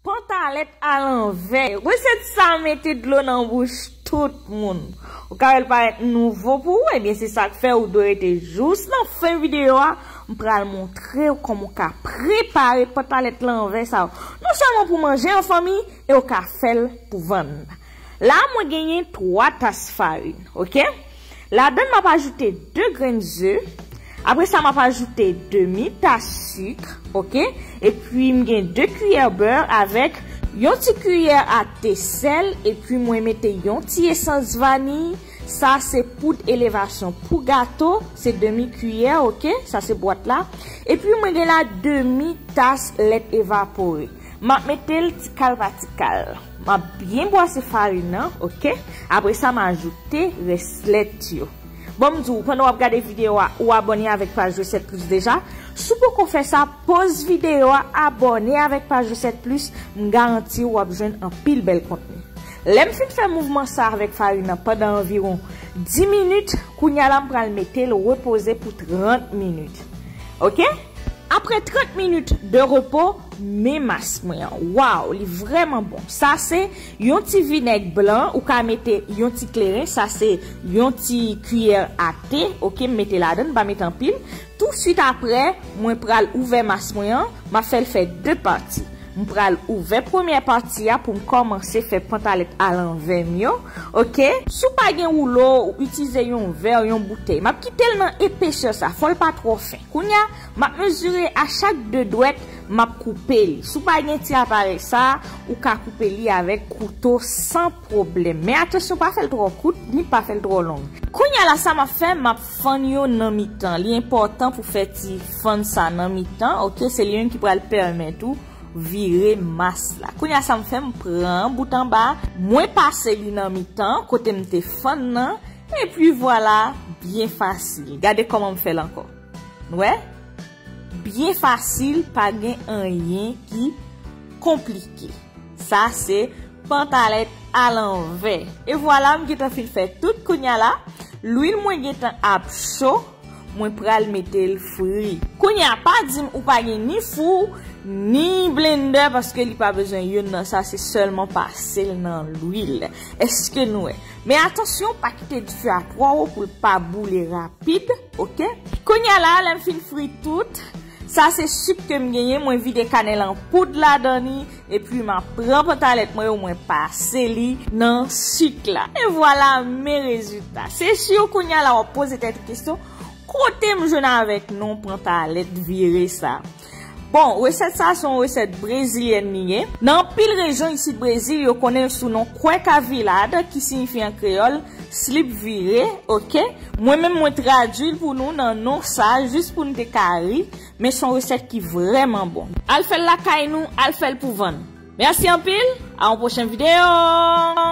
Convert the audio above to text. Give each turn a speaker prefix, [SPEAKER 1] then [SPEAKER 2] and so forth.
[SPEAKER 1] Pantalèt a lanvè. Resèt sa mete dlo nan bouch tout moun. Ou ka wè l parèt nouvo pou ou ebyen se sak fè ou dwe rete jous nan fen videyo a m pral montre ou kòman ou ka prepare pantalèt lanvè sa non sèlman pou manje an fanmi e ou ka fè l pou vann. La a mwen genyen 3 tas farin ok ladann map ajoute 2 grenn ze apre sa map ajoute demi tas suk ok epi m gen 2 kiyè beur avèk yon ti kiyè a te sèl epi mwen mete yon ti esans vaniy sa se poud elevasyon pou gato se demi kiyè ok sa se bwat la epi mwen gen la demi tas lèt evapore map metel tikal pa tikal. Map byen bwase farin nan ok apre sa m ajoute rès lèt yo bon m di w pandan wap gade video a ou abòne avèk paj resèt plis deja si w poko fè sa poz video a abòne avèk paj resèt plis m garanti w wap jwenn anpil bèl kontni lè m fin fè mouvman sa avèk farin nan pandan anviron 10 minit kounya la m pral mete l repoze pou 30 minit ok apre 30 minit de repo. Men mask mwen an waw li vreman bon sa se yon ti vinèg blan ou ka mete yon ti kleren sa se yon ti kiyè a te ok m mete ladan m pa mete anpil tou swit aprè mwen pral ouvè mask mwen an map fèl fè 2 pati m pral ouvè premyè pati a poum kòmanse fè pantalèt a lanvè m yo ok. Si w pa gen woulo ou itize yon vè yon boutèy map kitel nan epesè sa fòl pa twò fen kounya. M ap mezire a chak de dwèt, m ap koupe li. Si w pa gen ti aparèy sa a, ou ka koupe li avèk kouto san pwoblèm. Men atansyon pa fè l twò kout, ni pa fè l twò long. Kounye a la sa m ap fè, m ap fann yo nan mitan. Li enpòtan pou fè ti fann sa nan mitan, oke, se li menm ki pral pèmèt ou vire mas la. Kounye a sa m fè, m pran bout anba a, mwen pase li nan mitan kote m te fann nan, epi vwala, byen fasil. Gade kòman m fè l ankò. Nou wè? Byen fasil pa gen anyen ki konplike. Sa se pantalèt alanvè. E vwala m gentan fin fè tout kounya la. Lwil mwen gentan ap cho. Mwen pral mete l fri. Kounya pa di m ou pa gen ni fou, ni blendè paske li pa bezwen youn nan sa se sèlman pase l nan lwil. Eske nou wè? Men atansyon pa kite dife a twò wo poul pa boule rapid ok. Kounya la lèm fin fri tout Sa se suk kem genyen mwen vide kanèl an poud ladan li epi map pran pantalèt mwen yo mwen pase li nan suk la e vwala men rezilta se sur kounya la wap poze tèt ou kesyon kotem jwenn avèk non pantalèt vire sa. Bon, resèt sa a se yon resèt brezilyèn li ye. Nan anpil rejyon isit Brezil, yo konnen l sou non cueca virada ki siyifi an kreyòl, slip vire, ok. Mwen menm mwen tradui l pou nou nan non sa a jis pou n te ka ri, men son resèt ki vrèman bon. Al fè l lakay nou, al fè l pou vann. Mèsi anpil, a yon pwochen videyo!